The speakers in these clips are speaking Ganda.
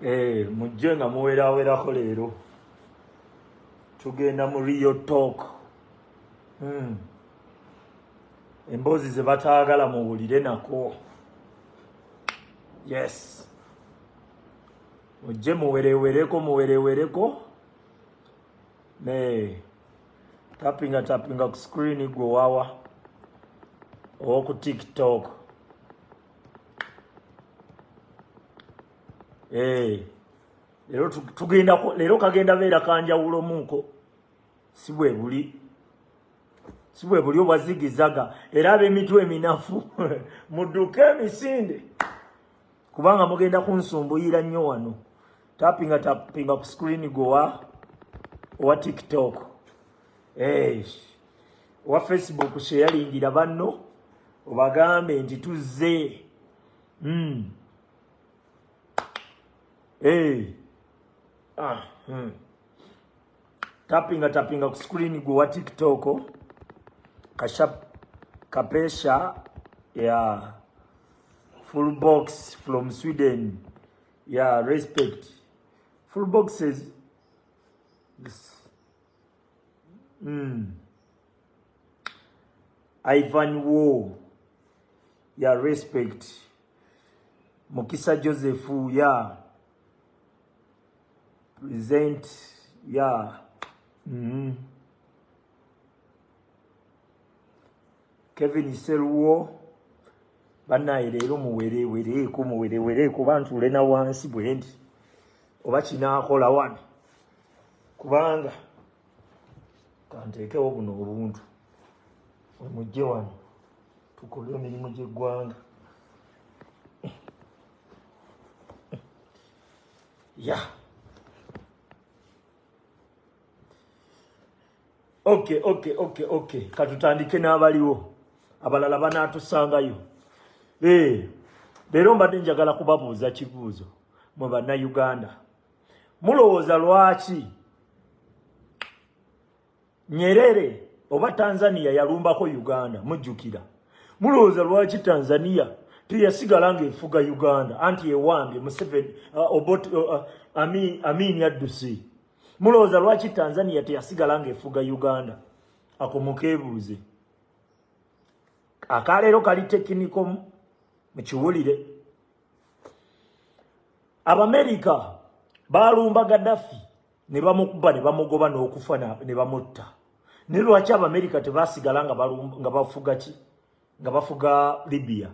Eh, mujje nga muwerawerako leero tugenda mu rio talk hmm. emboozi ze bataagala muwulire nako yes mujje muwerewereko muwerewereko ne tapinga tapinga ku screen gwe wawa owoku tiktok eh, lero tugenda lero kagenda beera kanjawulo munko si bwe buli si bwe buli obwazigizaga era ab'emitwe eminafu muduke emisinde kubanga mugenda kunsumbuyira nnyo wano tapinga tapinga ku screen gowa owa tiktok eish owa facebook sheyalingira banno obagambe nti tuzze mm. hey. ah, hmm. tapinga tapinga ku screen gowa tiktok kashap kapesha ya yeah. full box from sweden ya respect full boxes mm. ivan wo ya respect mukisa joseph ya present ya mm -hmm. kevin seruwo banaye leero muwerewereeko muwerewereeko oba ntuule na wansi bwendi oba kinaakola wano kubanga kanteekewo buno obuntu wemujje wano tukole emirimu gy'eggwanga ya yeah. okay okay okay okay katutandike n'abaliwo abalala banaatusangayo eh, leero mbadde njagala kubabuuza kibuuzo mwe bannayuganda mulowooza lwaki Nyerere oba Tanzania yalumbako Uganda mujjukira mulowooza lwaki Tanzania teyasigala nga efuga Uganda anti ewambye Museveni uh, obot uh, uh, ami amini addusi mulowooza lwaki Tanzania teyasigala nga efuga Uganda ako mukebuuze akaleero kali tekiniko mukiwulire Abamerika balumba Gaddafi ne bamukuba ne bamugoba n'okufa ne bamutta naye lwaki abamerika tebasigala nga bafuga ki nga bafuga libya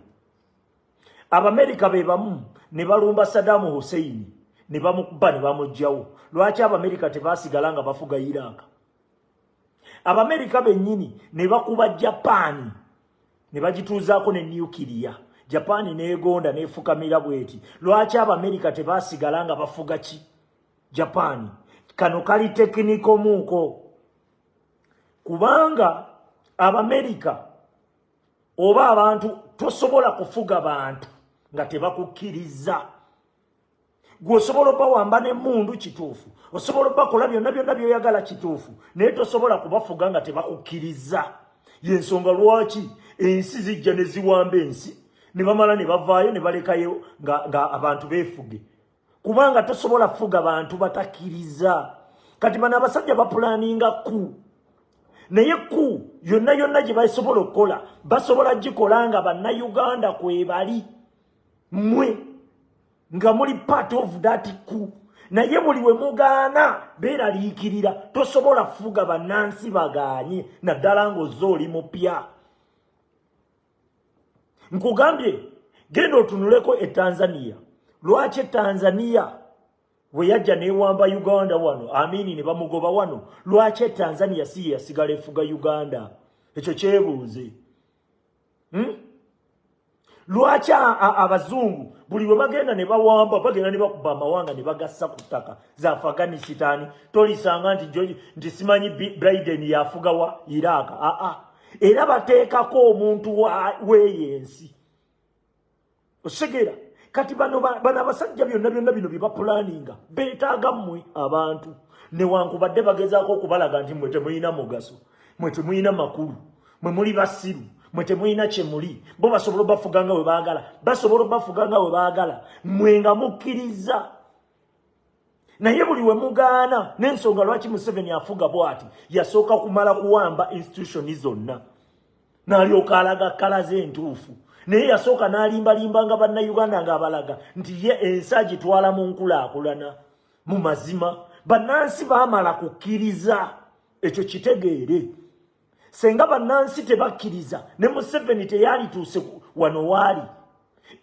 abamerika be bamu ne balumba sadamu husseini ne bamukuba ne bamugjawo lwaki abamerika tebasigala nga bafuga iraq abamerika bennyini ne bakuba japaani ne bagituuzaako ne nukiriya japaani neegonda neefukamira bweti lwaki abamerika tebasigala nga bafuga ki Japan kano kali tekiniko muuko kubanga abamerika oba abantu tosobola kufuga bantu nga tebakukkiriza gwe osobola obawamba nemundu kituufu osobola obakola byonna byonna byoyagala kituufu naye tosobola kubafuga nga tebakukkiriza yensonga lwaki ensi zijja neziwamba ensi nebamala nebavaayo nebalekayo nga abantu befuge kubanga tosobola kufuga bantu batakiriza kati bano abasajja bapulaninga ku naye ku yonna yonna gye basobola okukola basobola gikola nga bannayuganda kwebali mwe nga muli part of that ku naye buli we mugaana beeraliikirira tosobola kufuga bannansi bagaanye naddala ng'ozze oli mupya nkugambye genda otunuleko e tanzania lwaki e tanzania weyajja newamba uganda wano amini ne bamugoba wano lwaki e tanzania si yeyasigala efuga uganda ekyo kyebuuze hmm? lwaki abazungu buli bwe bagenda ne bawamba bagenda ne bakuba amawanga ne bagassa ku ttaka za afghanisitani tolisanga nti nti simanyi briden yafugawa iraaka aa ah, ah. era bateekako omuntu weeyo ensi osegeera kati bano bano abasajja byonna byonna bino byebapulaninga beetaaga mmwe abantu newankubadde bagezaako okubalaga nti mwe temulina mugaso mwe temulina makulu mwe muli basiru mwe temulina kyemuli bo basobola obafuga nga we baagala basobola obafuga nga we baagala mwe nga mukkirizza naye buli wemugaana nensonga lwaki museveni afuga bwati yasooka kumala kuwamba institutioni zonna nalyoka alaga kala ze entuufu naye yasooka nalimbalimbanga bannauganda ngaabalaga nti ye ensi agitwala mu nkulaakulana mu mazima bannansi baamala kukkiriza ekyo kitegeere senga bannansi tebakkiriza ne museveni teyalituuse wano waali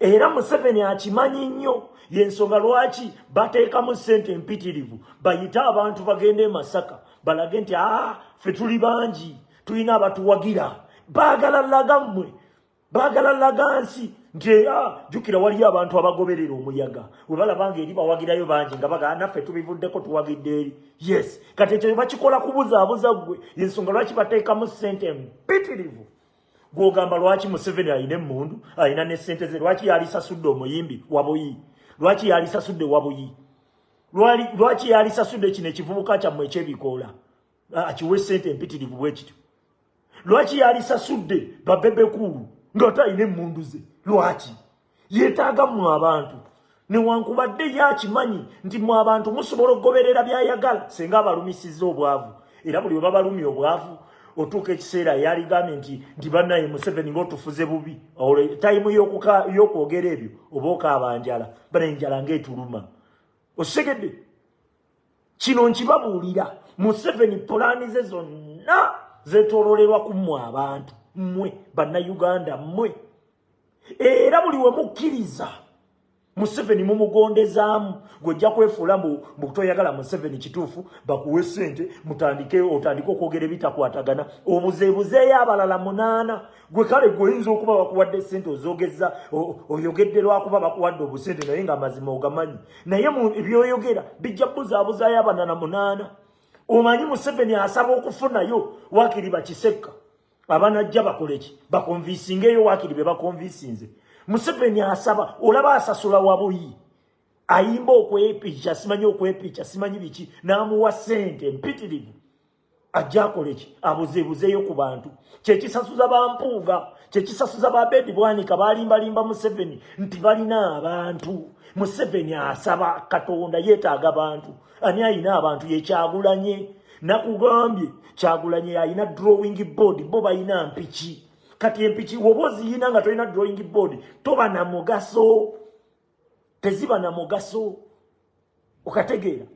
era museveni akimanyi nnyo yensonga lwaki bateekamu ssente empitirivu bayite abantu bagende emasaka balage nti aa ah, fe tuli bangi tulina abatuwagira baagala laga mmwe bagala laga nsi nti era ah, jukira waliyo abantu abagoberera omuyaga webalaba nga eri bawagirayo bangi nga bagaa naffe tubivuddeko tuwagidde eri yes kati ekyo bakikola kubuzaabuza gwe yensonga lwaki bateekamu sente mpitirivu gwogamba lwaki museveni alina emundu alina ne sente ze lwaki yalisasudde omuyimbi wabuyi lwaki yalisasudde wabuyi lwaki yalisasudde kino ekivubuka kyammwe ekyebikoola akiwe sente empitirivu bwekityo lwaki yalisasudde babebekuulu ngaate alina emundu ze lwaki yetaaga mu abantu newankubadde ye akimanyi nti mu abantu musobola okugoberera byayagala senga abalumisiza obwavu era buli webabalumya obwavu otuuka ekiseera yaligambye nti nti banaye museveni ngaotufuze bubi olwo tayimu yokwogera ebyo oba okaaba njala bana enjala ngaetuluma okitegedde kino nkibabuulira museveni pulaani ze zonna zetololerwa ku mmwe abantu mmwe bannayuganda mmwe era buli we mukkiriza museveni mumugondezaamu gwojja kwefuula mbu butoyagala museveni kituufu bakuwe sente mutandike otandike okwogera ebitakwatagana obuzeebuzeeyo abalala munaana gwe kale gwe oyinza okuba bakuwadde ssente ozogeza oyogedde lwakuba bakuwadde obusente naye nga amazima ogamanyi naye byoyogera bijja buzaabuzayo abana na munaana omanyi museveni asaba okufunayo wakiri bakisekka abanajja bakoleki bakonvisingeeyo wakiri be bakonvisinze museveni asaba olaba asasula wabuyi ayimba okwepica simanyi okwepica simanyi biki n'amuwa ssente mpitirivu ajja akole ki abuzeebuzeeyo ku bantu kyekisasuza bampuuga kyekisasuza babedi bwanika balimbalimba museveni nti balina abantu museveni asaba katonda yeetaaga bantu ani ayina abantu yekyagulanye nakugambye kyagulanye ayina drawing board bo balina mpiki kati empiki woba oziyina nga tolina drawing board toba na mugaso teziba na mugaso okategeera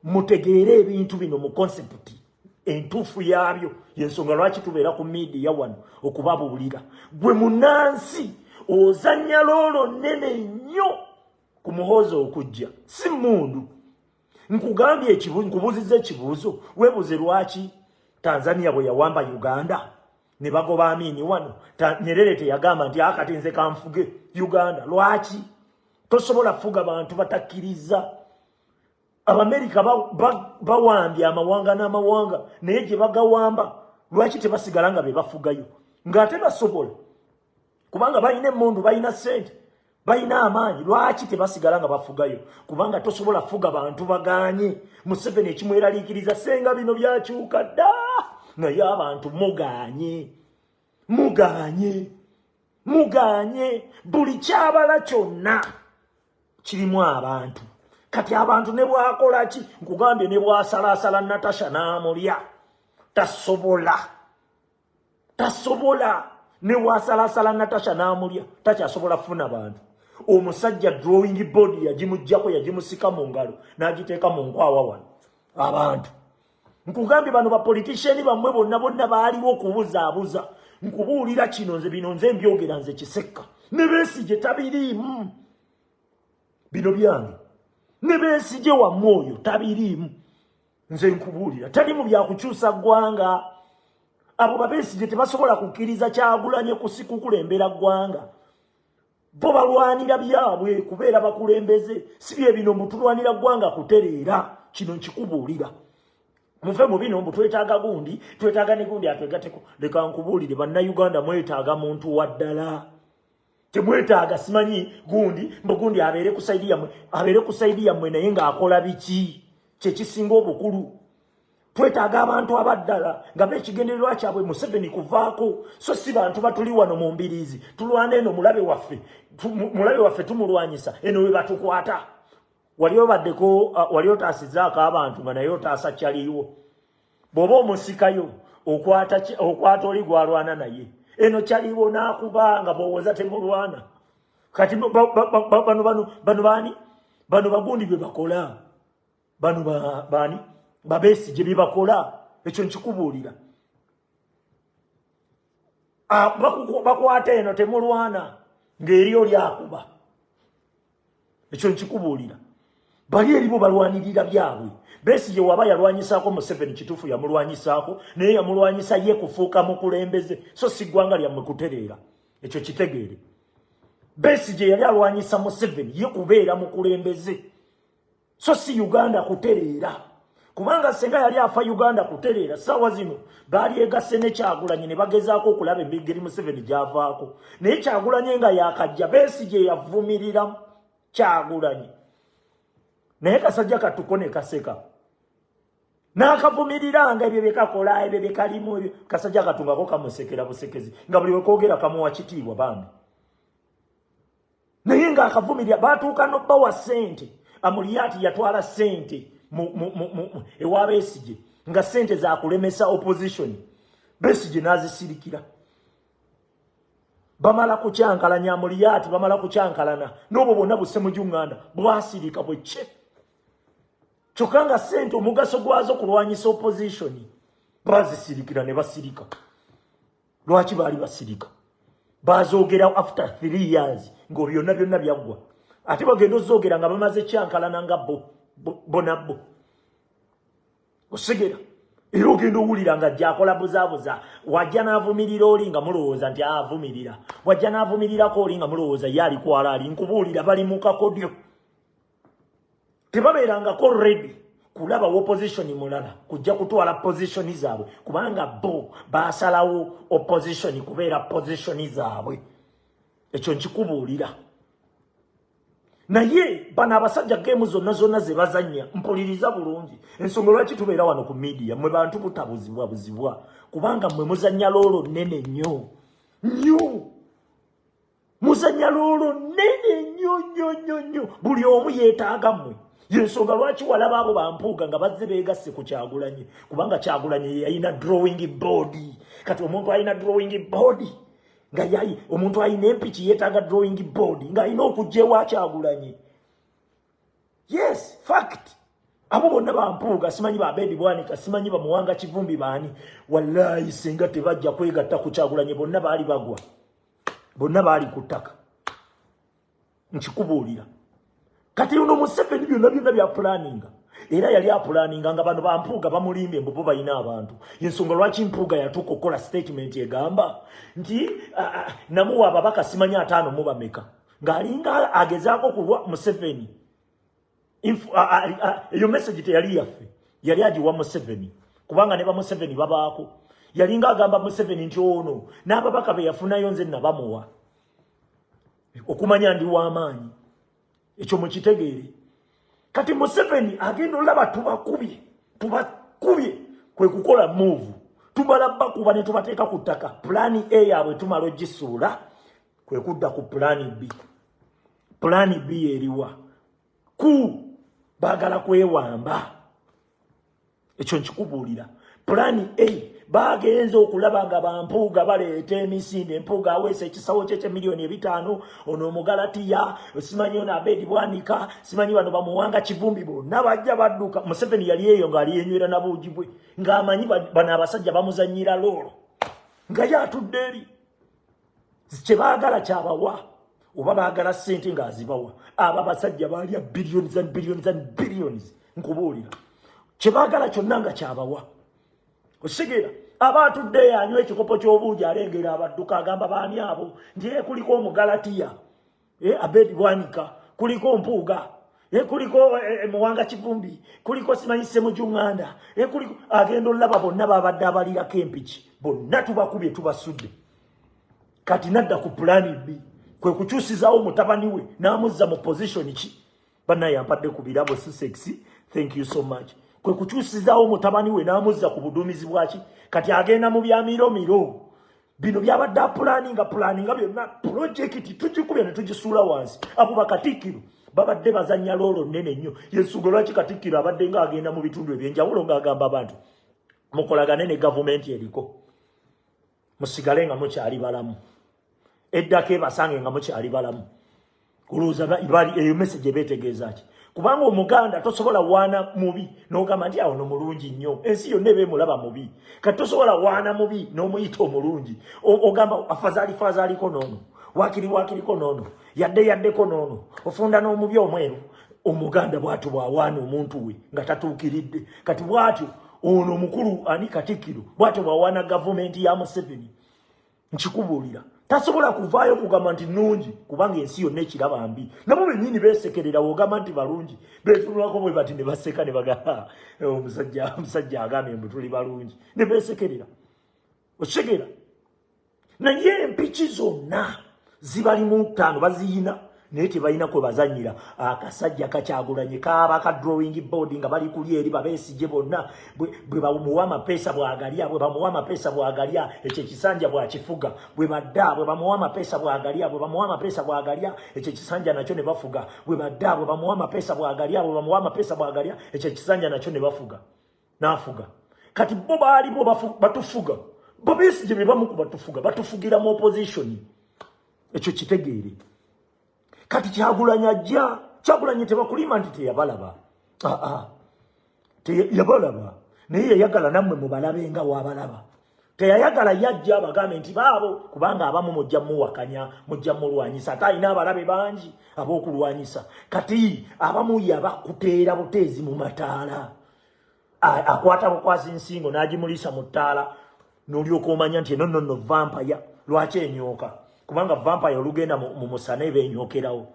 mutegeere ebintu bino mu konsepti entuufu yaabyo yensonga lwaki tubeera ku miidiya wano okubabuulira gwe munansi ozanya loolo nnene nnyo ku muhoozi okujja si mundu nkugambye nkubuuziza ekibuuzo webuuze lwaki tanzania bwe yawamba uganda ne bagoba amini wano nyerere teyagamba nti akati ah, nze kanfuge uganda lwaki tosobola fuga bantu batakkiriza abamerika bawambye amawanga n'amawanga naye gye bagawamba lwaki tebasigala nga be bafugayo ng'ate basobola kubanga balina emmundu balina ssente balina amaanyi lwaki tebasigala nga bafugayo kubanga tosobola fuga bantu baganye museveni ekimweraliikiriza senga bino byakyuka dda naye abantu muganye muganye muganye buli kyabala kyonna kirimu abantu kati abantu ne bwakola ki nkugambye ne bwasalaasala natasha n'amulya tasobola tasobola newasalasala natasha namulya takyasobola funa bantu omusajja drawing board yagimujjako yagimusika mu ngalo nagiteeka mu nkwawa wano abantu nkugambye bano bapoliticiani bamwe bonna bonna baaliwo okubuzaabuza nkubuulira kino nze bino nze mbyogera nze kisekka ne besigye tabiriimu bino byange ne besigye wamu oyo tabiriimu nze nkubuulira tali mu byakukyusa ggwanga abo babesigye tebasobola kukkiriza kyagulanye kusikukulembera ggwanga bo balwanira byabwe kubeera bakulembeze si bye bino mbu tulwanira ggwanga kutereera kino nkikubuulira muve mu bino mbu twetaaga gundi twetaaga ne gundi atwegateko leka nkubuulire bannayuganda mwetaaga muntu waddala temwetaaga simanyi gundi mbu gundi abeere ku saidi yammwe abeere ku saidi yammwe naye ng'akola biki kyekisinga obukulu twetaaga abantu abaddala nga beekigendererwa kyabwe museveni kuvaako so si bantu batuli wano mu mbiriizi tulwana eno mulabe waffe mulabe waffe tumulwanyisa eno we batukwata wali obaddeko uh, wali otaasizaako abantu nga naye otaasa kyaliiwo bwoba omusikayo okwata okwata oli gwalwana naye eno kyaliwo nakubanga bowoza temulwana kati bano bano bano bani bano bagundi bye bakola bano bani babesi gye bye bakola ekyo nkikubuulira bakwata eno temulwana ng'eri oli akuba ekyo nkikubuulira bali eribo balwanirira byabwe besigye waba yalwanyisaako museveni kituufu yamulwanyisaako naye yamulwanyisa ye kufuuka mukulembeze so si ggwanga lyammwe kutereera ekyo kitegeere besigye yali alwanyisa museveni ye kubeera mukulembeze so si uganda kutereera kubanga senga yali afa uganda kutereera saawa zino baalyegasse nekyagulanyi ne bagezaako okulaba emigeri museveni gyavaako naye kyagulanyi nga yakajja beesi gye yavumirira kyagulanyi naye kasajja katuko ne kaseka n'akavumiriranga ebyo byekakola ebyo byekalimu ebyo kasajja katungako kamusekera busekezi nga buli wekoogera kamuwa kitiibwa bambi naye nga akavumirira batuuka nobawa sente amuliyati yatwala sente ewa besigye nga sente zakulemesa opposition besigye nazisirikira bamala kukyankalanya amuliyati bamala kukyankalana nobwo bwonna busemujunganda bwasirika bwekye kyokka nga sente omugaso gwazo kulwanyisa opposition bazisirikira ne basirika lwaki baali basirika bazoogerawo after three years nga byonna byonna byaggwa ate bagenda ozoogera nga bamaze kyankalana nga bo bona bo osigera era ogenda owulira nga gyakola buzabuza wajja n'avumirira oli nga mulowooza nti avumirira wajja n'avumirirako oli nga mulowooza ye alikwala ali nkubuulira bali mu kakodyo tebabeerangako redi kulaba opposition mulala kujja kutwala position zaabwe kubanga bo basalawo opposition kubeera position zaabwe ekyo nkikubuulira naye bano abasajja geemu zonna zonna ze bazannya mpuliriza bulungi ensonga lwaki tubeera wano ku midiya mwe bantu butabuzibwa buzibwa kubanga mwe muzannya loolo nnene nnyo nnyo muzanya loolo nene nnyo nnyo nnyo nnyo buli omu yeetaaga mmwe yensonga lwaki walaba abo bampuuga nga bazze beegasse ku kyagulanyi kubanga kyagulanyi yeyalina drawing body kati omuntu alina drawing body nga yayi omuntu alina empiki yeetaaga drawing body ng'alina okujja ewa kyagulanyi yes fact abo bonna bampuuga simanyi babedi bwanika simanyi bamuwanga kivumbi baani wallaayi singa tebajja kwegatta ku kyagulanyi bonna baali bagwa bonna baali ku ttaka nkikubuulira kati ono museveni byonna byonna byapulaninga era yali apulaninga nga bano bampuuga bamulimbye mbubo balina abantu yensonga lwaki mpuuga yatuuka okukola sitatimenti egamba nti namuwa ababaka simanya ataano mubameka ng'alinga agezaako kulwa museveni eyo message teyali yaffe yali agiwa museveni kubanga ne bamuseveni babaako yalinga agamba museveni nti ono n'ababaka be yafunayo nze nabamuwa okumanya ndi w'amaanyi ekyo mukitegeere kati museveni agenda olaba tubakubye tubakubye kwe kukola muuvu tumala bakuba ne tubateeka ku ttaka pulaani e yaabwe tumala ogisuula kwe kudda ku pulaani b Pulani bi eriwa ku baagala kwewamba ekyo nkikubuulira pulani a bagenze okulaba nga bampuuga baleeta emisinde empuuga aweesa ekisawo kye kyemiliyoni ebitaano ono omugalatiya simanyi ono abedi bwanika simanyi bano bamuwanga kivumbi bonna bajja badduka museveni yali eyo ngaali yenywera nabuugi bwe ngaamanyi bano abasajja bamuzanyira loolo nga ye atudde eri kye baagala kyabawa oba baagala ssente ng'azibawa abo abasajja baalya billions and billions and billions nkubuulira kye baagala kyonna nga kyabawa osigera aba atudde yanywa ekikopo ky'obuugi alengera abadduka agamba baani abo nti ekuliko omugalatiya eh, abedi bwanika kuliko mpuuga eh, kuliko eh, eh muwanga kivumbi kuliko simanyi semujunganda eh, kuliko agenda olaba bonna babadde abalirako empiki bonna tubakubye tubasudde kati nadda ku pulani bbi kwe kukyusizawo mutabani we n'amuzza mu pozishoni ki banaye ampadde ku birabo si sexy thank you so much kwe kukyusizawo mutabani we n'amuzza ku buduumizi bwaki kati agenda mu byamiro miro bino byabadde apulaninga pulaninga byonna pulojekiti tugikubya ne tugisuula wansi abo bakatikkiro babadde bazanya loolo nnene nnyo yensuga lwaki katikkiro abadde nga agenda mu bitundu ebyenjawulo ng'agamba abantu mukolagane ne gavumenti eriko musigale nga mukyali balamu eddako ebasange nga mukyali balamu kulowooza bali eyo message ebeetegeeza ki kubanga omuganda tosobola waana mubi n'ogamba nti awo no mulungi nnyo ensi yonna eba emulaba mubi kati tosobola waana mubi n'omuyita omulungi ogamba afazaali fazaaliko noono wakiri wakiriko noono yadde yaddeko noono ofunda n'omubi omweru omuganda bwatyo bwawaana omuntu we nga tatuukiridde kati bwatyo ono omukulu ani katikkiro bwatyo bwawaana gavumenti ya museveni nkikubuulira tasobola kuvaayo kugamba nti nungi kubanga ensi yonna ekiraba mbi nabo benyini besekerera wogamba nti balungi betunulako bwe bati ne baseka ne bagamba eh, omusajja agambye mbu tuli balungi ne besekerera okitegeera naye empiki zonna zibali mu ttaano baziyina naye tebalina kwe bazanyira akasajja kakyagulanye kaaba ka drawing board nga bali kuli eri babesigye bonna bwe bamuwa amapeesa bwagalya bwe bamuwa amapeesa bwagalya ekyo ekisanja bwakifuga bwe badda bwe bamuwa amapeesa bwagalya bwe bamuwa amapeesa bwagalya ekyo ekisanja nakyo ne bafuga bwe badda bwe bamuwa amapeesa bwagalya bwe bamuwa amapeesa bwagalya ekyo ekisanja nakyo ne bafuga nafuga kati bo baalimu batufuga bobesi gye bebamu ku batufuga batufugira mu opposition ekyo kitegeere kati kyagulanya ajja kyagulanye tebakulima nti teyabalaba aa ah, ah. yabalaba naye yayagala nammwe mubalabe nga wabalaba teyayagala yajja abagambe nti baabo kubanga abamu mujja muwakanya mujja mulwanyisa ate alina abalabe bangi ab'okulwanyisa kati abamu yabakuteera buteezi mu mataala akwata bukwazi nsingo n'agimuliisa mu ttaala n'olyoka omanya nti eno nonno vampaya lwaki enyooka kubanga vampaya olugenda mu musana eba enyokerawo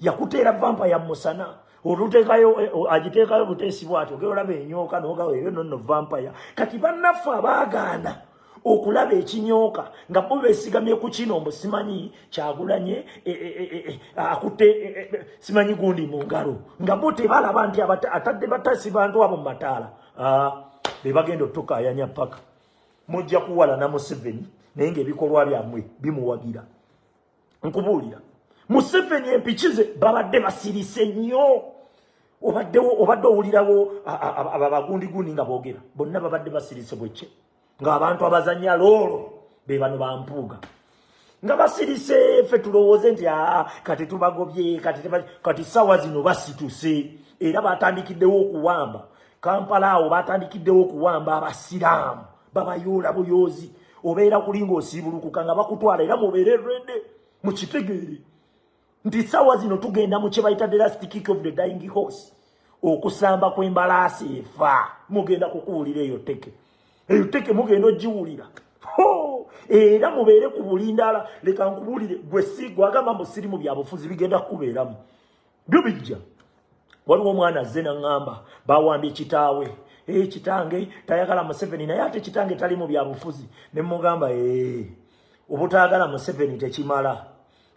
yakuteera vampa ya musana olutekayo eh, agiteekayo buteesi bwatyo ogera olaba enyooka nogawo eyo nonno vampaya kati bannaffe abaagaana okulaba ekinyooka nga bo besigamye ku kino mbu simanyi kyagulanye eh, eh, akutte simanyi gundi mu ngalo nga bo tebalaba nti atadde batasi bantu abo mu mataala ah, be bagenda otukaayanya paka mujja kuwala na museveni naye ngaebikolwa byamwe bimuwagira nkubuulira museveni empiki ze babadde basirise nnyo obaddewo obadde owulirawo abagundigundi nga boogera bonna babadde basirise bwekye ng'abantu abazanya loolo be bano bampuuga nga basirise ffe tulowooze nti aa kati tubagobye kati sawa zino basituse era batandikiddewo okuwamba kampala awo batandikiddewo okuwamba abasiraamu babayoola buyoozi obeera kulinga osiibulukuka nga bakutwala era mubeere rede mukitegeere nti sawa zino tugenda mu kyebayita the last kick of the dying horse okusamba kw'embalaasi efa mugenda kukuwulira eyo teke eyo teke mugenda ogiwulira era mubeere ku bulindala leka nkubuulire gwe si gwagamba musirimu byabufuzi bigenda kukubeeramu byo bijja waliwo omwana azze naŋŋamba bawambye kitaawe ee eh, kitange tayagala museveni naye ate kitange tali mu byabufuzi ne mugamba ee eh, obutaagala museveni tekimala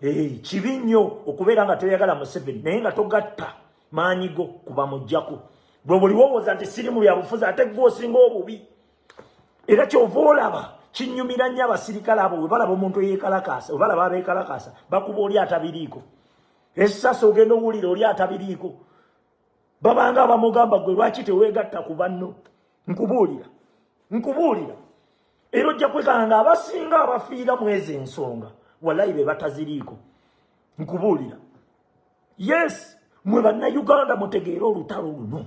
ee eh, kibi nnyo okubeera nga toyagala museveni naye nga togatta maanyi go kuba mujjako gwe buli wowooza nti siri mu byabufuzi ate gwe osinga obubi era kyova olaba kinyumira nnyo abasirikale abo webalaba omuntu eyekalakaasa webalaba abekalakaasa bakuba oli atabiriiko esasi ogenda owulira oli atabiriiko babanga abamugamba gwe lwaki tewegatta ku banno nkubuulira nkubuulira era ojja kwekanga nga abasinga abafiira mwezi ensonga walayi be bataziriiko nkubuulira yes mwe bannayuganda mutegeere olutalo luno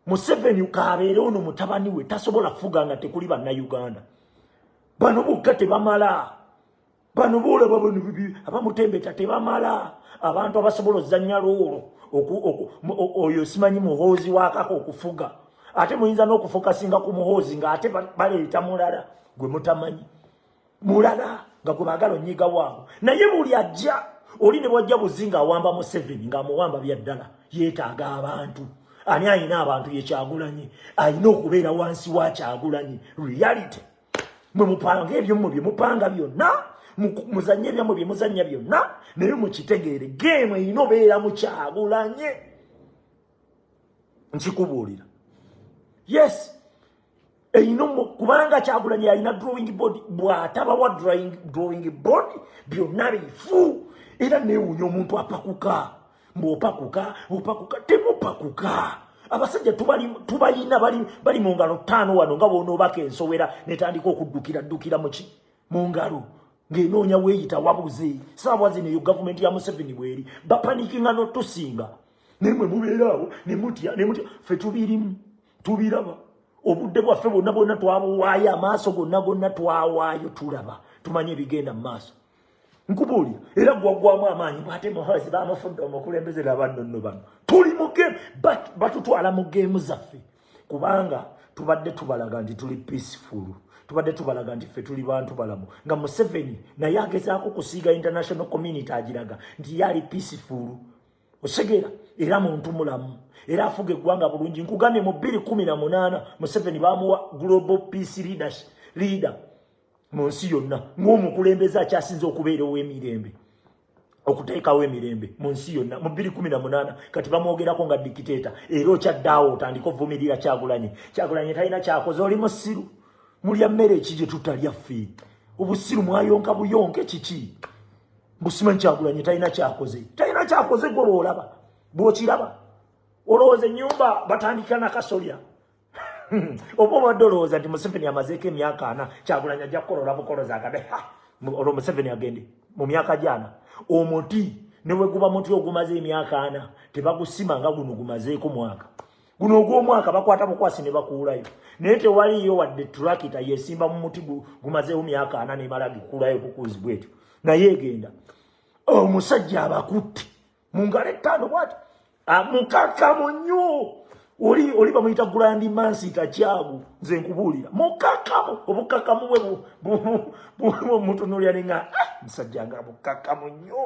museveni kaabeere ono mutabani we tasobola kufuga nga tekuli bannayuganda bano bukka tebamala bano boolaba bano abamutembeta tebamala abantu abasobola ozanya loolo oyo simanyi muhoozi wakaka okufuga ate muyinza n'okufokasinga ku muhoozi ng'ate baleeta mulala gwe mutamanyi mulala nga gwe baagala onyiga waabo naye buli ajja oli ne bwajja buzi ng'awamba museveni ng'amuwamba bya ddala yeetaaga abantu ani alina abantu yekyagulanyi alina okubeera wansi wa kyagulanyi reality mwe mupanga ebyomwe bye mupanga byonna muzanye ebyamwe bye muzanya byonna naye mukitegeere geemu erina obeera mukyagulanye nkikubuulira yes eyino kubanga kyagulanye yalina drawing board bwatabawa drawing board byonna bifu era newunya omuntu apakuka mbu opakuka opakuka temupakuka abasajja tubalina bali mu ngalo ttaano wano nga bwonoobaka ensowera netandika okuddukira ddukira muki mu ngalo ng'enoonya weeyita wabuze saawa zino eyo gavumenti ya museveni bweri bapanikinga notusinga naye mwe mubeeraawo nemutya nemutya fe tubirimu tubiraba obudde bwaffe bwonna bwonna twabuwaayo amaaso gonna gonna twawaayo tulaba tumanye ebigenda mu maaso nkubuulira era gwaggwamu amaanyi bwate muhozi bamufudde omukulembeze nabannono bano tuli mu game batutwala mu geemu zaffe kubanga tubadde tubalaga nti tuli peaceful tubadde tubalaga nti ffe tuli bantu balamu nga museveni naye agezaako kusiiga international community agiraga nti ye ali peaceful osegera era muntu mulamu era afuga eggwanga bulungi nkugambye mu 218 museveni bamuwa global peace leadership leader mu nsi yonna ng'omukulembeze akyasinze okubeera ow'emirembe okuteekawo emirembe mu nsi yonna mu bbiri kumi na munaana kati bamwogerako nga dikiteeta era okyaddaawo otandika ovumirira kyagulanye kyagulanye talina kyakoze oli musiru mulya mmere eki gye tutalya ffe obusiru mwayonka buyonke kiki busimanyi kyagulanye talina kyakoze talina kyakoze gwe lwolaba bwokiraba olowooza ennyumba batandikira nakasolya Hmm. oba obadde olowooza nti museveni amazeeko emyaka ana kyagulanyi ajja kukola olabukoloza agabe olwo museveni agende mu myaka gyana omuti neweguba muti ogumaze emyaka ana tebagusima nga guno gumazeeko mwaka guno ogwomwaka bakwata bukwasi ne bakuulayo naye tewaliyo wadde turakita yesimba mu muti gumazeewo myaka ana nemala gikuulayo bukuuzi bwetyo naye egenda omusajja abakutte mu ngalo ettaano bwati mukakamu nnyo oli oli bamuyita gulandi mansi takyagu nze nkubuulira mukakamu obukakamu bwe mutunulira ninga ah, musajja nga mukakamu nnyo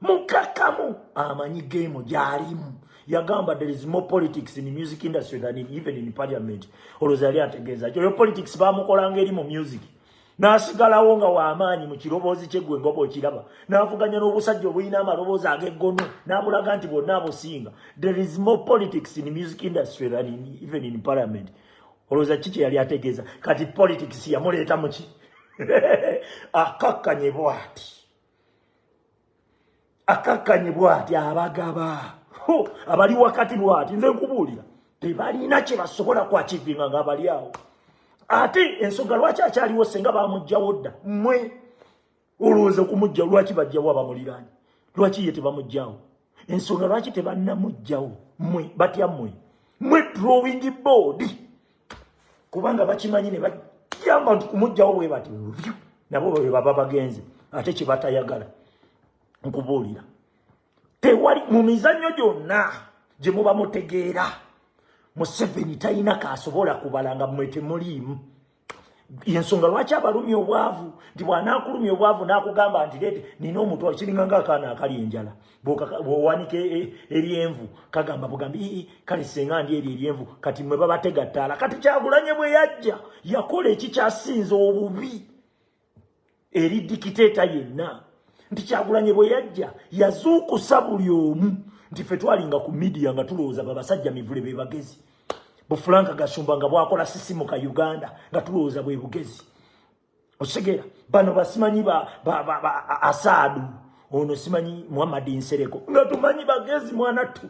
mukakamu amanyi geemu gyalimu yagamba there is more politics in the music industry than in, even in parliament olwoza yali ategeeza kyoyo politics bamukolanga eri mu music n'asigalawo nga w'amaanyi mu kiroboozi kye gwe ngoba okiraba n'avuganya n'obusajja obulina amaloboozi ag'eggono n'abulaga nti bwonna abusinga there is more politics in music industry than in, even in parliament olowooza ki kye yali ategeeza kati politics yamuleeta muki akakkanye bwati akakkanye bwati abagaba abali wakati bwati nze nkubuulira tebalina kye basobola kwakivinga nga bali awo ate ensonga lwaki akyaliwo senga bamugjawo dda mwe olowooza okumugjawo lwaki bajjawo abamuliraanyi lwaki ye tebamugjawo ensonga lwaki tebannamugjawo mwe batya mwe mwe drawing board kubanga bakimanyi ne bajamba nti kumugjawo bwe bati nabo baba bagenze ate kyebatayagala nkubuulira tewali mu mizannyo gyonna gye muba mutegeera museveni talina kaasobola kubala nga mwe temuliimu yensonga lwaki abalumya obwavu nti bwanaakulumya obwavu n'akugamba nti leete nina omuntu akiringa nga akaana akali enjala bwowanika e, e, eryenvu kagamba bugambi kale senga ndi eri eryenvu kati mwe babategattaala kati kyagulanye bwe yajja yakola ekikyasinza obubi eri dikiteeta yenna nti kyagulanye bwe yajja yazuukusa buli omu nti fe twalinga ku midiya nga tulowooza babasajja mivule be bagezi bufulanka gasumba nga bwakola sisimu ka uganda nga tulowooza bwe bugezi okitegera bano basimanyi asaadu ono simanyi muhammadi nsereko nga tumanyi bagezi mwana ttu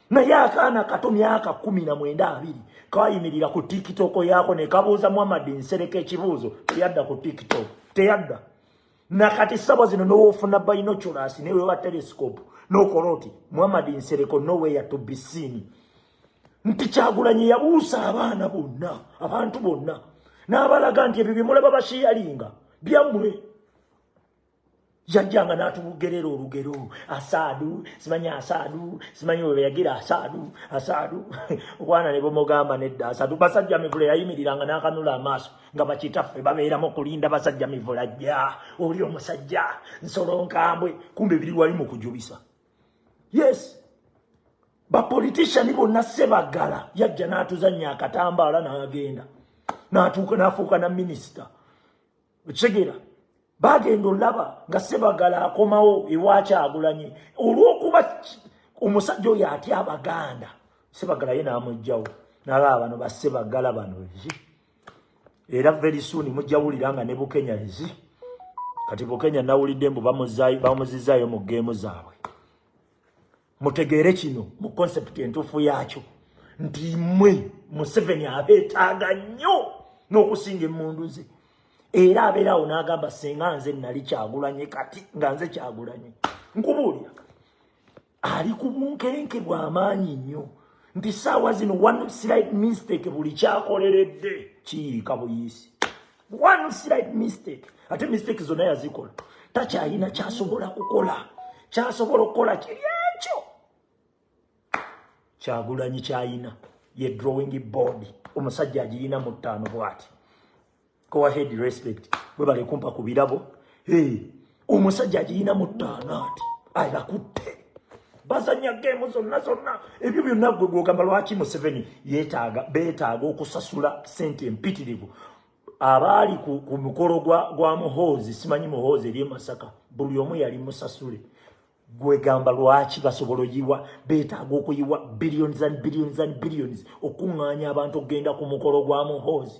naye akaana kato myaka kumi na mwenda abiri kayimirira ku tikitoko yaako ne kabuuza muhammadi nsereka ekibuuzo teyadda ku tikitoko teyadda nakati sabo zino n'owoofuna bayinoculasi naye weba telescope n'okola oti muhammadi nsereko noweya to be seen nti kyagulanyi yabuusa abaana bonna abantu bonna n'abalaga nti ebyo bye mulaba bashiyalinga byammwe yajjanga n'atubugerera olugero asaadu simanyi asaadu simanyi webeyagira asaadu asaadu obwana ne bumugamba nedda asaadu basajja mivula yayimiriranga n'akanula amaaso nga bakitaffe babeeramu okulinda basajja mivula jja oli omusajja nsolo nkambwe kumbe biri wali mu kujubisa yes bapolitishani bonna sebagala yajja n'atuzannya akatambaala n'agenda n'atuuka n'afuuka na minisita okitegeera bagenda olaba nga sebagala akomawo ewakyagulanye olwokuba omusajja oyo atya abaganda sebagala ye namugjawo nalaba bano basebagala bano ezi era very soon mujawulira nga ne bukenya ezi kati bukenya nawulidde mbu bamuzizaayo mu geemu zaabwe mutegeere kino mu concept entuufu yaakyo nti mwe museveni abeetaaga nnyo n'okusinga emmundu ze era abeera awo n'agamba singa nze nali kyagulanye kati nga nze kyagulanye nkubuulira ali ku bunkenke bw'amaanyi nnyo nti saawa zino one slight mistake buli kyakoleredde kiyiika buyiisi one slight mistake ate mistake zonna yazikola takyalina kyasobola kukola kyasobola okukola kiri ekyo kyagulanyi kyayina ye drawing board omusajja agiyina mu ttaano bwati kowahead respect webale kumpa ku birabo hey. omusajja agiyina mu ttaanaati abakutte bazanya geemu zonna zonna ebyo byonna gwe gwogamba lwaki museveni yetaaga beetaaga okusasula sente empitirivu abaali ku, ku mukolo gwa, gwa muhoozi simanyi muhoozi eri emasaka buli omu yali musasule gwegamba lwaki basobola oyiwa beetaaga okuyiwa billions and billions and billions okuŋŋaanya abantu okugenda ku mukolo gwa muhoozi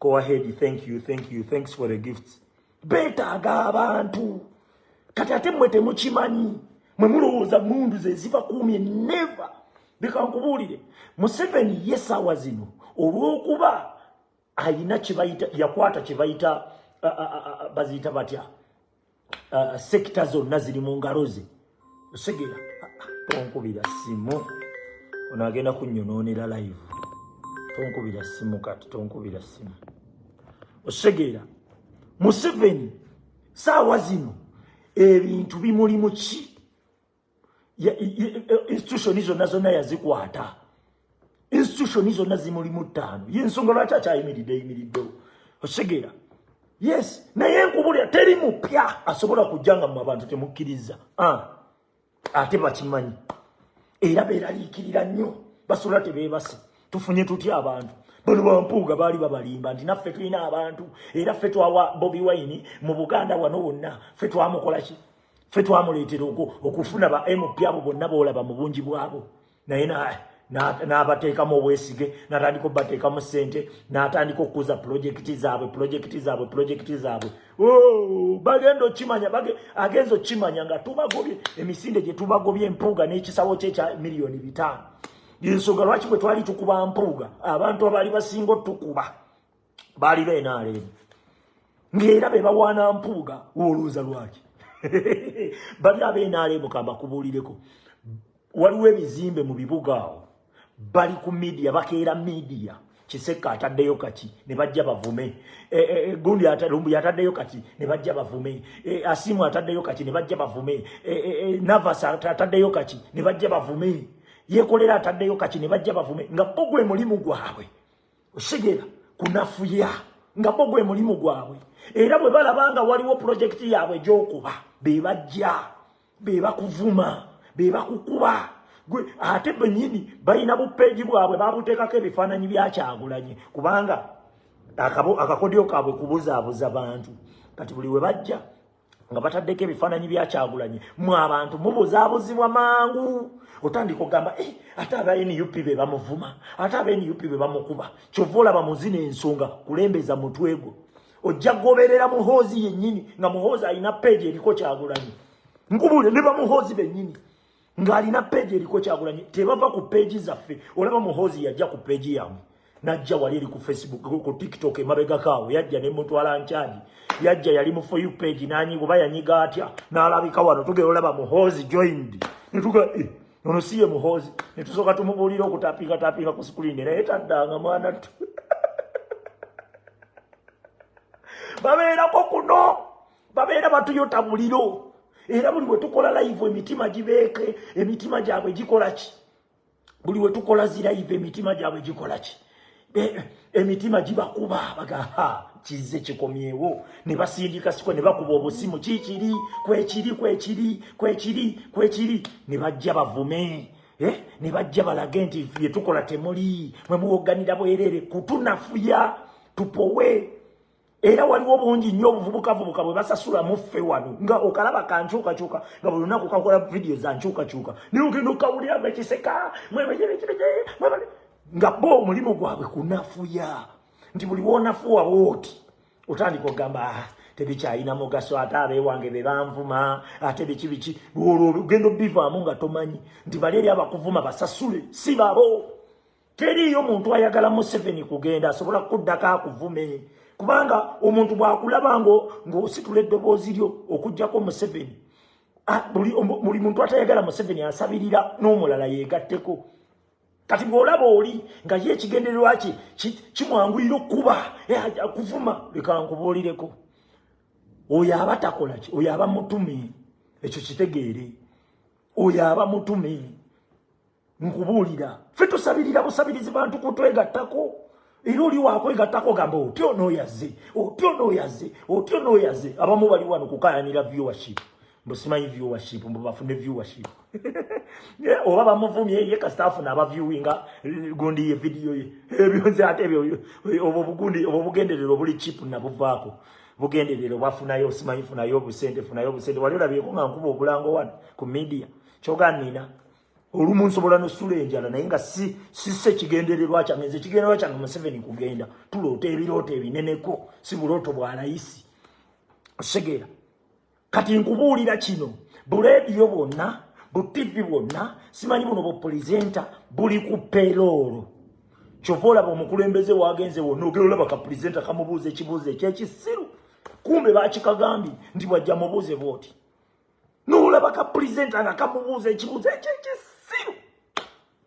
go ahead thank you thank you thanks for the gifts betaaga abantu kati ate mwe temukimanyi mwe mulowooza mundu zeziva kuumye never leka nkubuulire museveni ye saawa zino olw'okuba ayina kyebayita yakwata kyebayita baziyita batya uh, sekita zonna ziri mu ngalo ze osegera tonkubira simu ono agenda kunyonoonera live tonkubira simu kati tonkubira simu osegeera museveni saawa zino ebintu bimuli muki institution zonna zonna yazikwata institution zonna zimulimu ttaano yensonga lwaki akyayimiridde yimiriddewo okitegeera yes naye nkubulira teri mupya asobola kujja nga mu abantu temukkiriza ah, ate bakimanyi era beraliikirira nnyo basobola tebeebase tufunye tutya abantu bano bampuuga baali babalimba nti naffe tulina abantu era ffe twawa bobi wayini mu buganda wano wonna ffe twamukolaki fe twamuleetera okufuna ba mp abo bonna boolaba mu bungi bwabo naye n'abateekamu obwesige n'atandika obubateekamu ssente n'atandika okukuza pulojekiti zaabwe pulojekiti zaabwe pulojekiti zaabwe oh, bagenda okimanya agenza okukimanya nga tubagobye emisinde gye tubagobye empuuga n'ekisawo kye ekya miliyoni bitaano yensonga lwaki bwe twali tukuba mpuuga abantu abaali basinga otukuba baali benaleemu ngaera bebawaana mpuuga woluuza lwaki bali abenaleemu kambakubuulireko waliwo ebizimbe mu bibuga awo bali ku midiya bakeera midiya kisekka ataddeyo kaki ne bajja bavume eh, eh, eh, gundi lumbu yataddeyo kaki ne bajja bavume asimu ataddeyo kaki ne bajja bavume navas ataddeyo kaki ne bajja bavume yekolera ataddeyo kaki ne bajja bavume nga bogwe mulimu gwabwe osigera kunafuya nga bo gwe mulimu gwabwe era bwe balaba nga waliwo pulojekiti yaabwe gyokuba be bajja be bakuvuma be bakukuba gwe ate benyini balina bupeegi bwabwe babuteekako ebifaananyi byakyagulanye kubanga akakodyo kaabwe kubuzaabuza bantu kati buli we bajja nga bataddeko ebifaananyi bya kyagulanyi mwe abantu mubuzaabuzibwa mangu otandika ogamba eh, ate aba nup be bamuvuma ate aba nup be bamukuba kyova olaba muzina ensonga kulembeza mutwe gwo ojja goberera muhoozi yennyini nga muhoozi alina peegi eriko kyagulanyi nkubuule ne bamuhoozi bennyini ng'alina peegi eriko kyagulanyi tebava ku peegi zaffe olaba muhoozi yajja ku peegi yamwe najja wali eri ku facebook ku tiktok emabegako awo yajja ne mutwala nkyagi yajja yali mu foyu peegi nanyiga oba yanyiga atya n'alabika wano tugera olaba muhoozi joined netuga eh, ono si ye muhoozi netusooka tumubuulira okutapinga tapinga ku sikulini naye taddanga mwana tu babeerako kuno babeera batuyota muliro era buli wetukola layivu emitima gibeeke emitima gyabwe gikola ki buli wetukola zirayivu emitima gyabwe gikola ki emitima gibakuba bagaha kizze kikomyewo ne basindika siko ne bakuba obusimu kikiri kwekiri kwekiri kwekiri kwekiri ne bajja bavume eh? ne bajja balage nti fye tukola temuli mwe muwoganira bwerere kutunafuya tupowe era waliwo bungi nnyo obuvubukavubuka bwe basasula muffe wano nga okalaba kankyukakyuka nga buli lunaku kakola vidiyo za nkyukakyuka naye ogenda okawulira nga kiseka nga bo omulimu gwabwe kunafuya nti buli wonafuwa wooti otandika okugamba ah, tebikyalina mugaso ate abewange be banvuma ate biki biki olwo ogenda obivaamu nga tomanyi nti bali eri abakuvuma basasule si babo Teriiyo muntu ayagala Museveni kugenda asobola kukuddako akuvume kubanga omuntu bw'akulaba ng'ositula eddoboozi lyo okugyako Museveni ah, buli muntu atayagala Museveni asabirira n'omulala yeegatteko kati bw'olaba oli nga ye ekigendererwa kye kimwanguyira okukuba eh, kuvuma leka nkubuulireko oyo aba takola ki oyo aba mutume ekyo kitegeere oyo aba mutume nkubuulira ffe tusabirira busabirizi bantu kutwegattako era oli wakwegattako gamba otya onooyaze otya onooyaze otya onooyaze abamu bali wano kukayanira viewership busimanyi viewership mbu bafune viewership oba bamuvumye ye kasita afuna abaviewinga eh, gundi ye vidiyo ye ebyo nze ate ebyo eh, obwo bugundi obwo bugenderero obuli chip nabuvaako bugenderero bwafunayo osimanyi funayo obusente funayo obusente wali olabyeko nga nkuba obulango wano ku media kyoga nina olumu nsobola nosula enjala naye nga si sise kigendererwa kyange nze kigendererwa kyange museveni kugenda tuloota ebirooto ebineneko si bulooto bwa layisi osegeera kati nkubuulira kino buleediyo bwonna bu tivi bwonna simanyi buno bupulizenta buli ku peroolo kyova olaba omukulembeze wagenze wonna ogera olaba kapulizenta kamubuuza ekibuuzo ekyekisiru kumbe bakikagambye nti bwajja mubuuze bwoti nolaba ka pulezidenti nga kamubuuza ekibuuzo ekyo ekisiru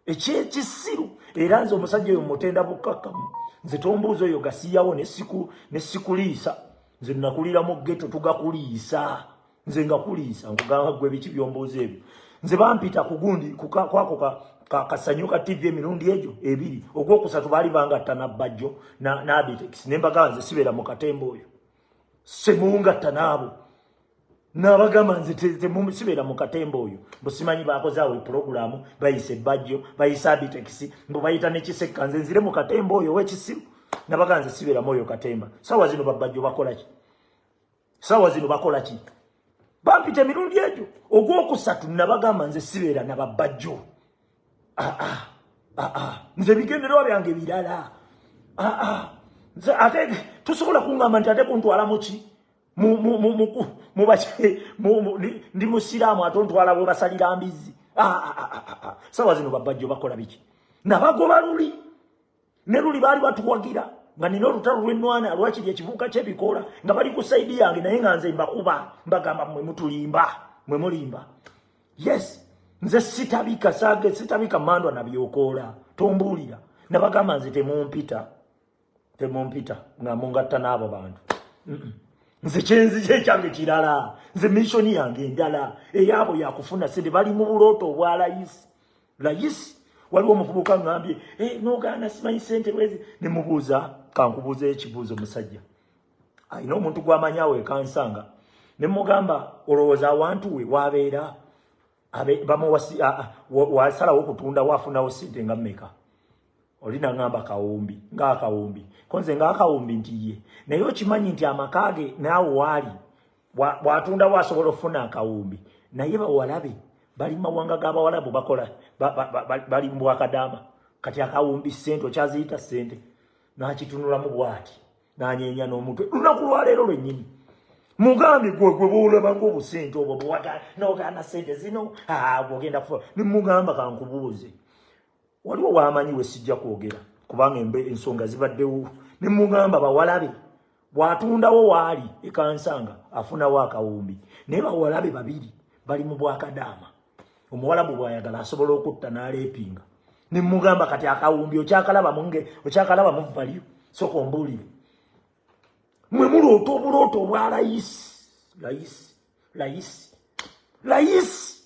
ekyekisiru era nze omusajja oyo mutenda bukkakkamu nze tombuuza oyo gasiyawo ne sikuliisa nze nakulira mu geto tugakuliisa nze nga kuliisa nkugamba gwe biki byombuuza ebyo nze bampita kugundi kwako kasanyu ka tv emirundi egyo ebiri ogwokusatu baali bangatta nabbajjo nabitex nembagaanze sibeera mu katemba oyo semungatta naabo nabagamba nze sibeera mu katemba oyo busimanyi bakoze awo epulogulaamu bayisa ebbajjo bayisa abitekisi mbu bayita nekisekka nze nzire mu katemba oyo owekisiru nabagamba nze sibeeramu oyo katemba saawa zino babbajjo bakolaki saawa zino bakolaki bampita emirundi egyo ogwokusatu nabagamba nze sibeera na babbajjo ah, ah, ah, nze bigendererwa byange birala ate tusobola kuŋgamba nti ate kuntwalamuki ndi musiraamu ate ontwala bwe basalira mbizzi ah, ah, ah, sawa zino babajjo bakola biki nabagoba luli ne luli baali batuwagira nga nina olutalo lwenwana lwakiri ekivuuka kyebikoola nga bali ku saidi yange naye nga nze mbakuba mbagamba mwe mutulimba mwe mulimba yes nze sitabika sage sitabika mandwa nabyokoola tombuulira nabagamba nze temumpita temumpita nga mungatta n'abo bantu nze kyenzija ekyange kirala nze missoni yange endala eyaabo yakufuna sente bali mu bulooto obwa layisi layisi waliwo omuvubuka ngambye eh, nogaana simanyi sente bwezi nemubuuza kankubuuza ekibuuzo musajja alina omuntu gwamanyi awo ekansanga nemugamba olowooza awantu we wabeera wasalawo okutunda wafunawo sente nga meka oli nangamba kawumbi ngaakawumbi konze ngaakawumbi nti ye naye okimanyi nti amaka ge naawe waali bwatundawo asobola okufuna akawumbi naye bawalabe bali mumawanga gabawalabu bakola bali mubwakadaama kati akawumbi sente okyaziyita sente nakitunulamu bwati nanyenya n'omutwe lunaku lwaleero lwennyini mugambi gwegwe bwolabanga obusente obwo bwewata nogana sente zino ogenda kufuna nimugamba kankubuuze waliwo wamanyi wesijja kwogera kubanga embe ensonga zibaddewo ne mugamba bawalabe bwatundawo waali ekansanga afunawo akawumbi naye bawalabe babiri bali mu bwakadaama omuwalabu bwayagala asobola okutta naleepinga ne mugamba kati akawumbi okyakalaba munge okyakalaba mu valiyo soka ombuulire mwe muloota obulooto obwa layisi layisi layisi layisi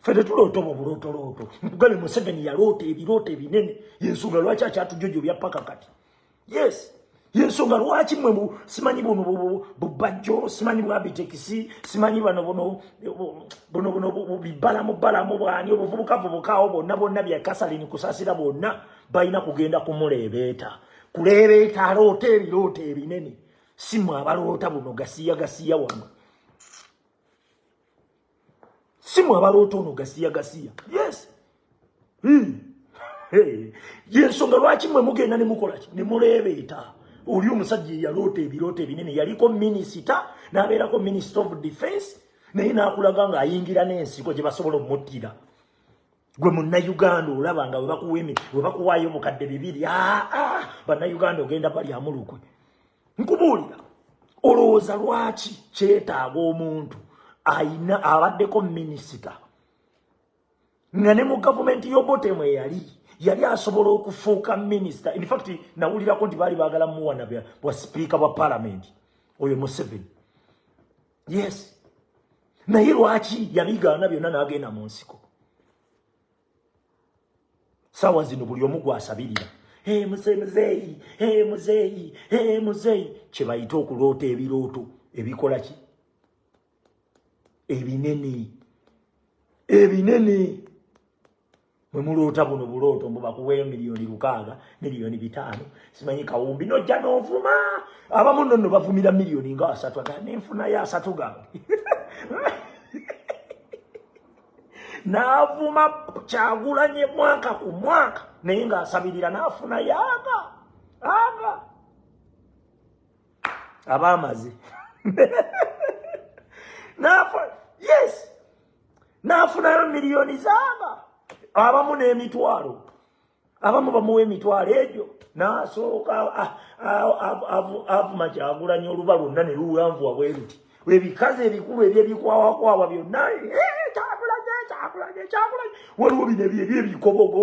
ffe tetuloota obwo bulootolooto nkugabe museveni yaloota ebiroota ebinene yensonga lwaki akyatujojo byapaka kati yes yensonga lwaki mwe simanyi buno bubajjo simanyi bwabitekisi simanyi bano buno buno buno bibalamu balamu bwani obuvubukavubukawo bwonna bwonna byakasalini kusasira bwonna balina kugenda kumuleebeeta kuleebeeta aloota ebiroota ebinene simwe abaloota buno gasiya gasiya wano simwe abaloota ono gasiya gasiya yes hmm. yensonga lwaki mwe mugenda ne mukolaki ne muleebeeta oli omusajja eyaloota ebirooto ebinene yaliko minisita n'abeerako minisita of defense naye n'akulaga ng'ayingira n'ensiko gye basobola omuttira gwe munnayuganda olaba nga webakuwemi webakuwaayo bukadde bibiri aa ah, ah, bannayuganda ogenda balyamulukwe nkubuulira olowooza lwaki kyetaaga omuntu ayina abaddeko minisita nga ne mu gavumenti yobotemu eyali yali asobola okufuuka minisita infact nawulirako nti baali bagala muwana bwa sipiika bwa palamenti oyo museveni yes naye lwaki yabigaana byonna n'agenda mu nsiko saawa zino buli omu gwasabirira e muse muzeeyi e muzeeyi e muzeeyi kye bayita okuloota ebirooto ebikola ki ebinene ebinene bwe muloota buno bulooto mbu bakuweeyo miliyoni lukaaga miliyoni bitaano simanyi kawumbi nojja n'ovuma abamu nno nno bavumira miliyoni nga asatu aga nenfunayo asatu gange n'avuma kyagulanye mwaka ku mwaka naye ng'asabirira n'afunayo aga aga abaamazi yes n'afunayo miliyoni zaaba abamu n'emitwalo abamu bamuwa emitwalo egyo n'asooka avuma kyagulanya oluba lwonna ne luwanvuwa bwe luti ebikazi ebikulu ebyebikwawakwawa byonna eh, waliwo bino ebyo ebikobogo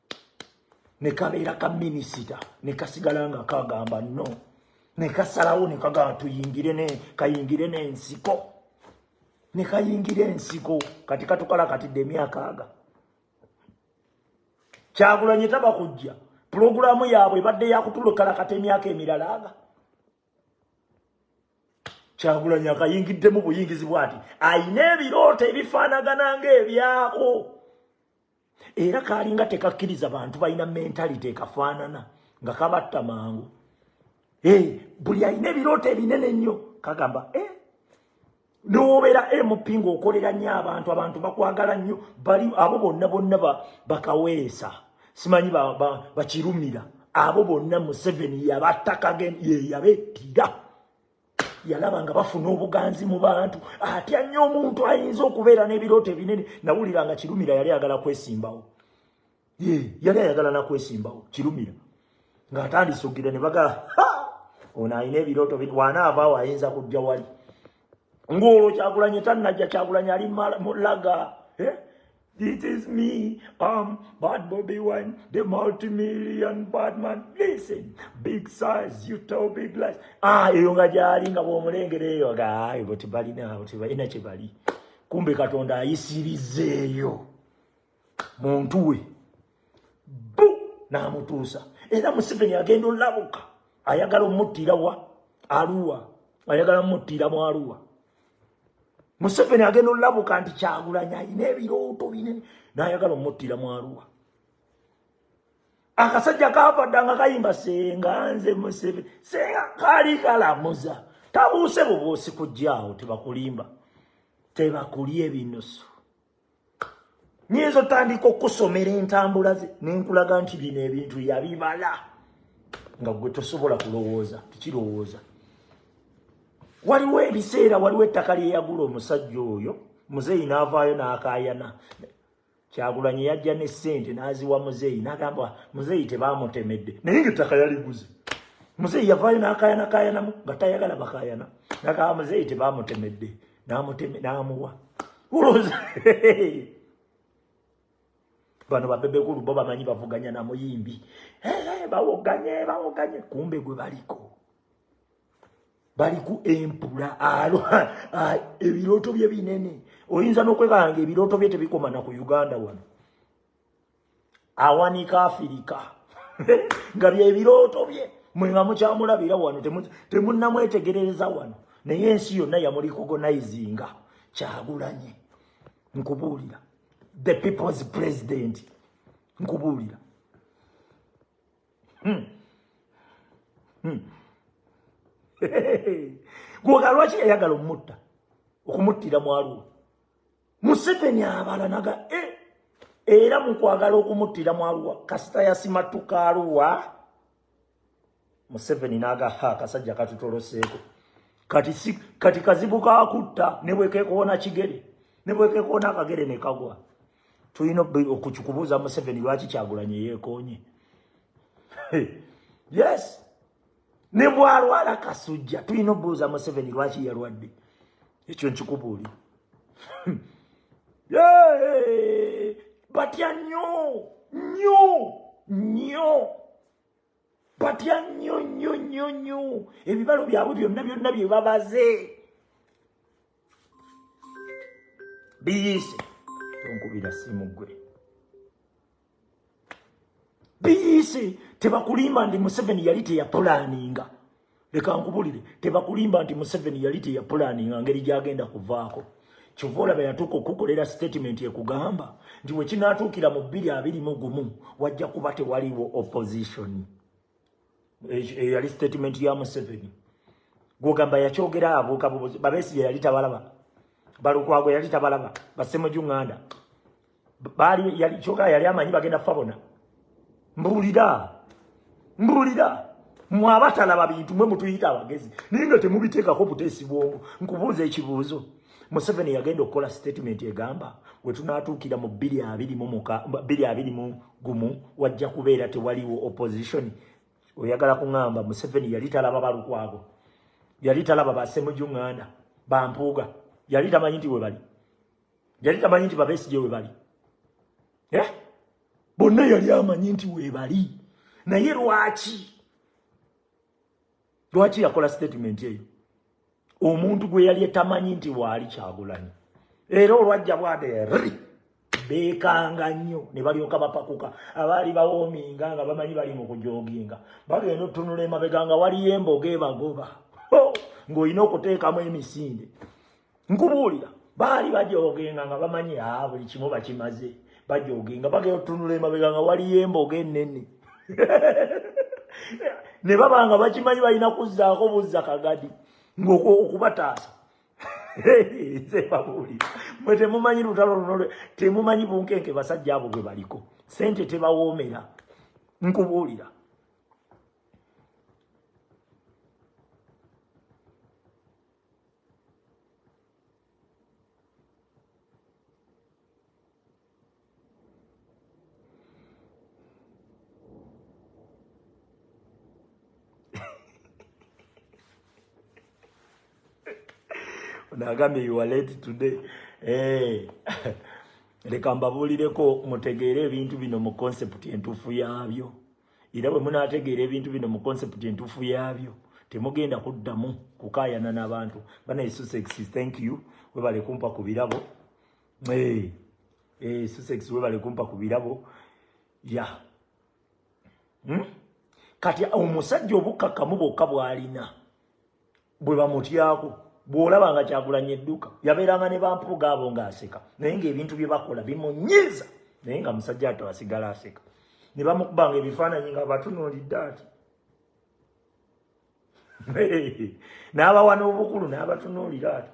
ne kabeera ka minisita ne kasigala nga kagamba no ne kasalawo ne kagamba tuyingire ne kayingire n'ensiko ne kayingira ensiko kati katukala kati de myaka aga kyagulanye taba kujja pulogulaamu yaabwe ebadde yakutulukala kati emyaka emirala aga kyagulanye akayingiddemu buyingizi bwati ayina ebirooto ebifaanagana ngaebyako era kaalinga tekakkiriza bantu balina mentality ekafaanana nga kabatta mangu eh, buli alina ebirooto ebinene nnyo kagamba eh, nowobeera mp ngaokolera nnyo abantu abantu bakwagala nnyo bali abo bonna bonna bakaweesa simanyi bakirumira abo bonna museveni yabattaka yeyabettira yalaba nga bafuna obuganzi mu bantu atya nnyo omuntu ayinza okubeera n'ebirooto ebinene nawulira nga kirumira yali ayagala kwesimbawo ye yali ayagala nakwesimbawo kirumira ng'atandise okugira ne baga ono alina ebirooto bit wanaavaawo ayinza kujja wali ng'olwo kyakulanye tannajja kyakulanye ali mulaga eh? This is me, um, Bad Bobby Wine, the multi-million bad man. Listen, big size, you tell big lies. Ah, eyo nga jali nga bwomulengere eyo ga ayo boti bali na boti bali na chibali. Kumbe katonda ayisirize eyo. Muntu we. Bu na mutusa. Era Museveni agenda olabuka. Ayagala omuttira wa Arua. Ayagala omuttira mu Arua. museveni agenda olabuka nti kyagulanya ayina ebirooto binene nayagala omuttira mwaluwa akasajja kavadda nga kayimba senga nze museveni senga kali kalamuza tabuuse bubuusi kujjaawo tebakulimba tebakulya ebinusu nyinza otandika okusomera entambula ze nenkulaga nti bino ebintu yabibala nga gwe tosobola kulowooza tikirowooza waliwo ebiseera waliwo ettaka lyeyagula omusajja oyo muzeeyi n'avaayo n'akayana kyagulanyi yajja ne ssente n'aziwa muzeeyi n'agamba muzeeyi tebaamutemedde naye nga ettaka yaliguze muzeeyi yavaayo n'akayana kayanamu nga tayagala bakayana nagamba muzeeyi tebaamutemedde namuteme namuwa uloza bano babebe kulu baba manyi bavuganya na muyimbi hey, hey, bawoganye bawoganye kumbe gwe baliko baliku empula alo ebiroto bye binene oyinza nokwebanga ebiroto bye tebikoma na ku uganda wano awanika afirika nga byebirooto bye mwe nga mukyamulabira wano temunnamwetegerereza wano naye ensi yonna yamulikogonaizinga kyagulanye nkubuulira the people's president nkubuulira hmm. hmm. gwoga lwaki yayagala omutta okumuttira mwaliwo museveni abala naga e era mukwagala okumuttira mu aluwa kasita yasimattuka aluwa museveni naga ha akasajja katutoloseeko kati si kati kazibu kakutta ne bwekekoona kigere ne bwekekoona akagere ne kagwa tulina okukikubuuza museveni lwaki kyagulanye yeekoonye yes ne bwalwala kasujja tulina obuuza museveni lwaki yalwadde ekyo nkikubuuli batya nyo nyo nyo batya nyo nyo nyo nyo ebibalo byabwe byonna byonna byebabaze biyiise tonkubira simugwe biyise tebakulimba nti museveni yali teyapulaninga leka nkubulire tebakulimba nti museveni yali teyapulaninga ngeri gyagenda kuvaako kyova olaba yatuuka okukukolera sitatimenti ekugamba nti wekinatuukira mu bbiri abiri mu gumu wajja kuba tewaliwo opposition eyo yali sitatimenti ya museveni gwogamba yakyogera abuuka bubuzi babesiye yali tabalaba balukwago yali tabalaba basemujunganda baali yali kyoka yali amanyi bagenda fa bona mbulira mbulira mwe abatalaba bintu mwe mutuyita abagezi naye nga temubiteekako buteesi bwongo nkubuuza ekibuuzo museveni yagenda okukola sitatimenti egamba we tunaatuukira mu bbiri abiri mu muka bbiri abiri mu gumu wajja kubeera tewaliwo opozitioni oyagala kuŋamba museveni yali talaba balukwago yali talaba basemujunganda bampuuga yali tamanyi nti we bali yali tamanyi nti babesigye webali eh? bonna yali amanyi nti webali naye lwaki lwaki yakola statement eyo omuntu gwe yali etamanyi nti waali kyagulanyi era olwajja bwade ri bekanga nnyo ne balyoka bapakuka abaali bawoominga nga bamanyi bali mu kujoginga bagenda otunula emabega nga waliyo emboga ebagoba ng'olina okuteekamu emisinde nkubuulira baali bajoogenga nga bamanyi a buli kimu bakimaze bajoogenga bagenda otunula emabega nga waliyo emboga ennene ne baba nga bakimanyi balina kuzzaako buzza kagadi ngaokubataasa nze babuulira mwe temumanyi lutalo luno temumanyi bunkenke basajja abo bwe baliko sente tebawoomera nkubuulira nagambye you are late today eh leka mbabuulireko mutegeere ebintu bino mu concept entuufu yaabyo era bwe munaategeera ebintu bino mu konsepti entuufu yaabyo temugenda kuddamu kukaayana n'abantu bana esusex thank you webale kumpa ku birabo esusex eh, eh, webale kumpa ku birabo ya hmm? kati omusajja obukkakkamu bwokka bw'alina bwe bamutyako bw'olaba nga kyagulanya edduka yabeeranga ne bampuuga abo ng'aseka naye ng'ebintu bye bakola bimunyiiza naye nga musajja ato asigala aseka ne bamukubanga ebifaananyi nga batunuulidde ati n'abawa n'obukulu n'abatunuulira ati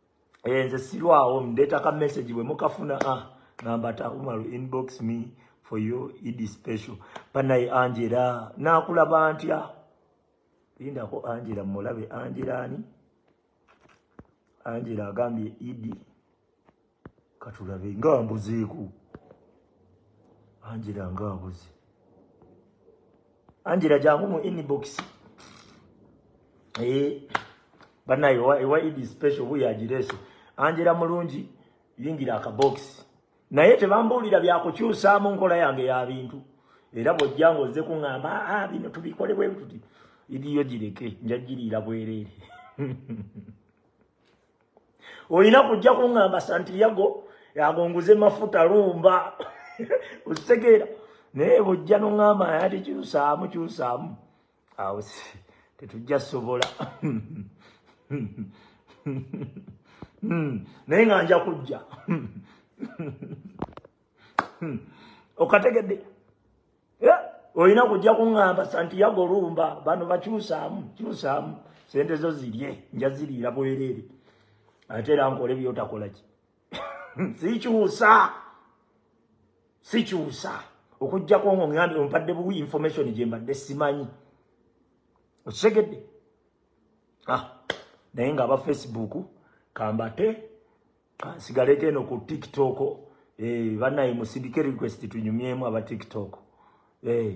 eh, nze sirwawo mdeta ka message bwe mukafuna ah, ngamba takumalu inbox me for you idi special banaye angela nakulaba ntya lindako angela mulabe angela ani angela agambye idi katulabe nga mbuzeeko angela nga abuze angela jangu mu inbox ee eh, banaye ewa idi special buyo agireese angela mulungi yingira akabokisi naye tebambuulira byakukyusaamu nkola yange ya bintu era bwojja nga ozze kuŋŋamba aa ah, ah, bino tubikole bwe tuti idiyo gireke njagiriira bwereere olina kujja kuŋŋamba santiyago agonguze mafuta lumba okitegeera naye bujja noŋŋamba yati kyusaamu kyusaamu awo tetujja sobola hmm, naye nga nja kujja okategedde olina kujja kuŋŋamba santiago lumba bano bakyusaamu kyusaamu sente zo zirye nja ziriira bwereere ate era nkole byotakola ki sikyusa sikyusa okujjako nga oŋŋambye ompadde buwi information gye mbadde simanyi okitegedde ah, naye nga aba facebook kambate kansigaleko eno ku tiktok eh, banaye musindike request tunyumyemu aba tiktok eh.